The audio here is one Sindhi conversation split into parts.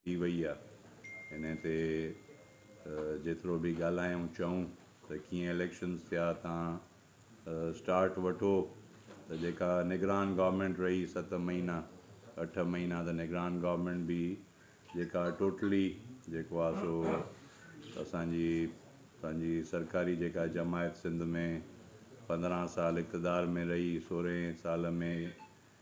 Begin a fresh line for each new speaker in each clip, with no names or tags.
ٿي وئي آ ان تي جيترو به ڳالهايون چئون ته ڪيئن اليڪشنز ٿيا تان اسٽارٽ وٺو ته جيڪا نگران گورنمينٽ رهي ست مهينا اٺ مهينا ته نگران گورنمينٽ به جيڪا ٽوٽلي جيڪو آ سو اسانجي پنهنجي سرڪاري جيڪا جماعت سنڌ ۾ پندرهن سال اقتدار ۾ رهي سورهين سال ۾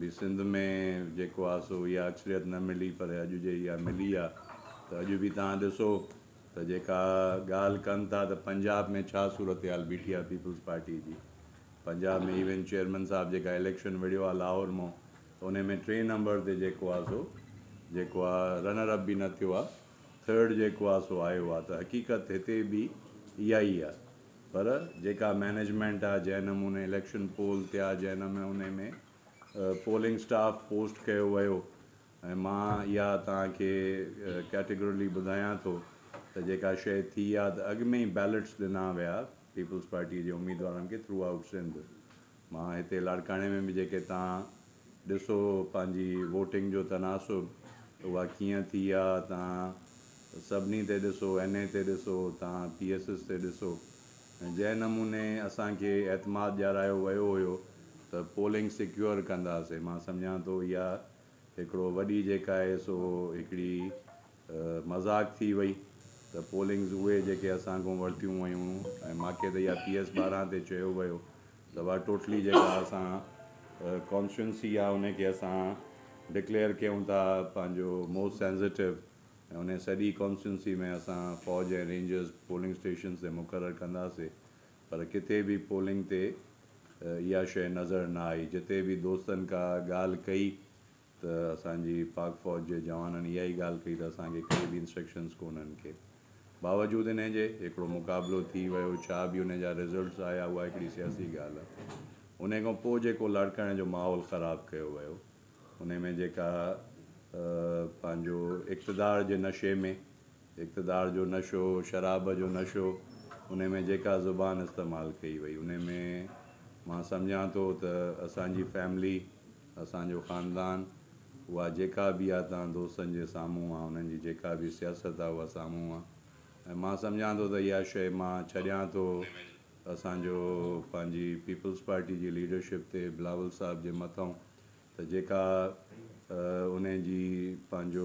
به سنڌ ۾ جيڪو آ سو اها اڪثريت نه ملي پر اڄ جي اها ملي آ ته اڄ به توهان ڏسو ته جيڪا ڳالهه ڪن ٿا ته پنجاب ۾ ڇا صورتحال بيٺي آ پيپلز پارٽي جي پنجاب ۾ ايون چيئرمين صاحب جيڪا اليڪشن وڙهيو آ لاهور مون ته انهي ۾ ٽين نمبر تي جيڪو آ سو جيڪو آ رنر اپ به نه ٿيو آ ٿرڊ جيڪو آ سو آيو آ ته حقيقت هتي به اها ئي آ. پر جيڪا مينيجمينٽ آ جنهن نموني اليڪشن پول ٿيا جنهن نموني ۾ پولنگ اسٽاف پوسٽ ڪيو ويو ۽ مان اها توهان کي ڪيٽيگرلي ٻڌايان ٿو ته جيڪا شيء ٿي آ ته اڳ ۾ ئي بيلٽس ڏنا ويا پيپلز پارٽي جي اميدوارن کي ٿرو آئوٽ سنڌ مان هتي لاڙڪاڻي ۾ به جيڪي تان ڏسو پنهنجي ووٽنگ جو تناسب اها ڪيئن ٿي آ تان سڀني تي ڏسو اين اي تي ڏسو تان پي ايس ايس تي ڏسو جنهن نموني اسان کي اعتماد ڏيارايو ويو هيو ته پولنگ سيڪيور ڪنداسي مان سمجهان ٿو اها هڪڙو وڏي جيڪا آهي سو هڪڙي مذاق ٿي وئي ته پولنگز اهي جيڪي اسان کان ورتيون ويون ۽ ماکي ته اها پي ايس ٻارهن تي چيو ويو ته اها ٽوٽلي جيڪا اسان ڪانسٽيوئنسي آهي ان کي اسان ڊڪليئر ڪيون ٿا پنهنجو موسٽ سينزيٽو ۽ ان سڄي ڪانسٽيوئنسي ۾ اسان فوج ۽ رينجرز پولنگ اسٽيشنز تي مقرر ڪنداسي پر ڪٿي به پولنگ تي اها شيء نظر نه آئي جتي به دوستن ڪا ڳالهه ڪئي ته اسان جي پاڪ فوج جي جوانن اها ئي ڳالهه ڪئي ته اسان کي ڪهڙي به انسٽرڪشنز ڪونهن ڪي باوجود انهي جي هڪڙو مقابلو ٿي ويو ڇا به انهي جا رزلٽس آيا اها هڪڙي سياسي ڳالهه انهي کان پوء جيڪو لاڙڪاڻي جو ماحول خراب ڪيو ويو انهي ۾ جيڪا پنهنجو اقتدار جي نشي ۾ اقتدار جو نشو شراب جو نشو انهي ۾ جيڪا زبان استعمال ڪئي وئي انهي ۾ مان سمجهان ٿو ته اسان جي فيملي اسان جو خاندان، اها جيڪا به آ توهان دوستن جي سامهون آ، انهن جي جيڪا به سياست آ اها سامهون آ ۽ مان سمجهان ٿو ته اها شيء مان ڇڏيان ٿو اسان جو پنهنجي پيپلز پارٽي جي ليڊرشپ تي بلاول صاحب جي مٿئون ته جيڪا انهن جي پنهنجو